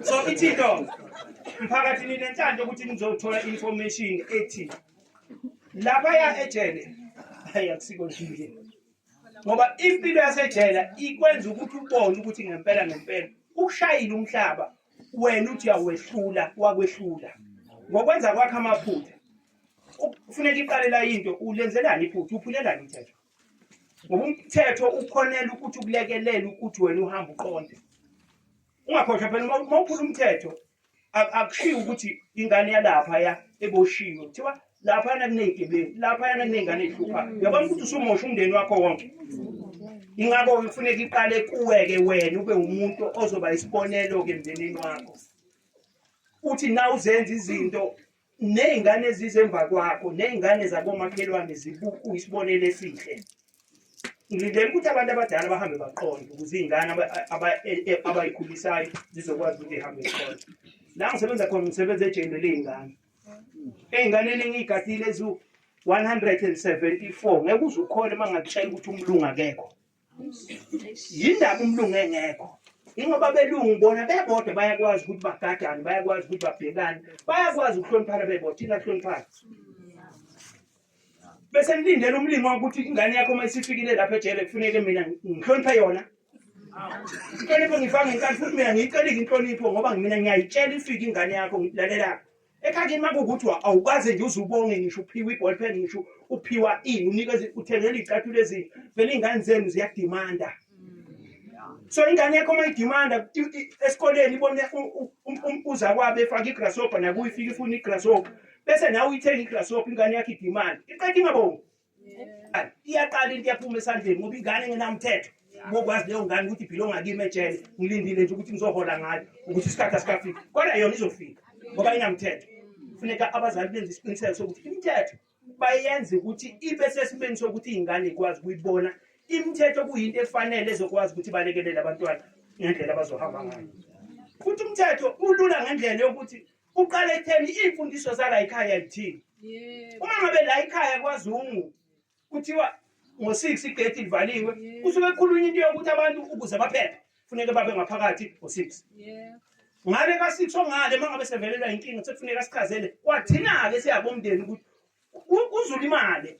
so ithi into mphakathi ninenhlanhla ukuthi nizothola information ethi laphaya ejele hayi akusiko nje ngoba impilo yasejele ikwenza ukuthi ubone ukuthi ngempela ngempela ukushayile umhlaba wena uthi uyawehlula wakwehlula ngokwenza kwakhe amaphutha kufuneka iqalela into ulenzelani iphutha uphulelani umthetho ngoba umthetho ukhonela ukuthi ukulekelela ukuthi wena uhambe uqonde ungakhohlwa phela uma uma uphula umthetho ak- akushiyi ukuthi ingane yalaphaya eboshiwe kuthiwa laphayana kuney'gebengu laphayana kuney'ngane ey'hluphayo uyabona ukuthi usumosha umndeni wakho wonke ingakho kufuneka iqale kuwe-ke wena ube umuntu ozoba isibonelo-ke emndenini wakho uthi na uzenza izinto Nezingane ezize emva kwakho nezingane zakomakhelwane zibuku isibonelo esihle. Ngilindele ukuthi abantu abadala bahambe baqonde ukuze izingane abayikhulisayo zizokwazi ukuthi ihambe iqonde. La ngisebenza khona ngisebenza ejele lezingane. Ezinganeni engiyigadile ezu 174 ngeke uzukhole mangakutshela ukuthi umlungu akekho. yindaba umlungu engekho ingoba belungu bona bebodwa bayakwazi ukuthi bagadane bayakwazi ukuthi babhekane bayakwazi ukuhloniphana bebodwa thina kuhloniphana bese nilindele umlimi wakuthi ingane yakho uma isifikile lapha ejele kufuneke mina ngihloniphe yona inhlonipho ngifake ngenkathi futhi mina ngiyicelile inhlonipho ngoba mina ngiyayitshela ifike ingane yakho ngilalelapho ekhakini uma kukuthiwa awukaze nje uze ubonge ngisho uphiwa i-ball pen ngisho uphiwa ini unikeza uthengela iy'cathulo ezinhle vele iy'ngane zenu ziyadimanda so ingane yakho uma idimanda esikoleni ibone uzakwabo efaka igrasshopper nakuye ifike ifuna igrasshopper bese nawe uyithenga igrasshopper ingane yakho idimanda iqeda ingabongi iyaqala into iyaphuma esandleni ngoba ingane engenamthetho bokwazi leyo ngane ukuthi philo ngakimi ejele ngilindile nje ukuthi ngizohola ngayo ukuthi isikhathi asikafiki kodwa yona izofika ngoba inamthetho funeka abazali benze isiqiniseko sokuthi imithetho bayenze ukuthi ibe sesimeni sokuthi iy'ngane ikwazi ukuyibona imithetho kuyinto efanele ezokwazi ukuthi balekelele abantwana ngendlela abazohamba ngayo futhi umthetho ulula ngendlela yokuthi Kuqala ekutheni iy'mfundiso zala yikhaya lithini. Uma ngabe la yikhaya kwaZungu kuthiwa ngo-six igedi livaliwe kusuke kukhulunywa into yokuthi abantu ukuze baphephe funeke babe ngaphakathi ngo-six. Ngale ka-six ongale uma ngabe sevelelwa yinkinga sekufuneka sichazele kwathina-ke siyabomndeni ukuthi uzulimale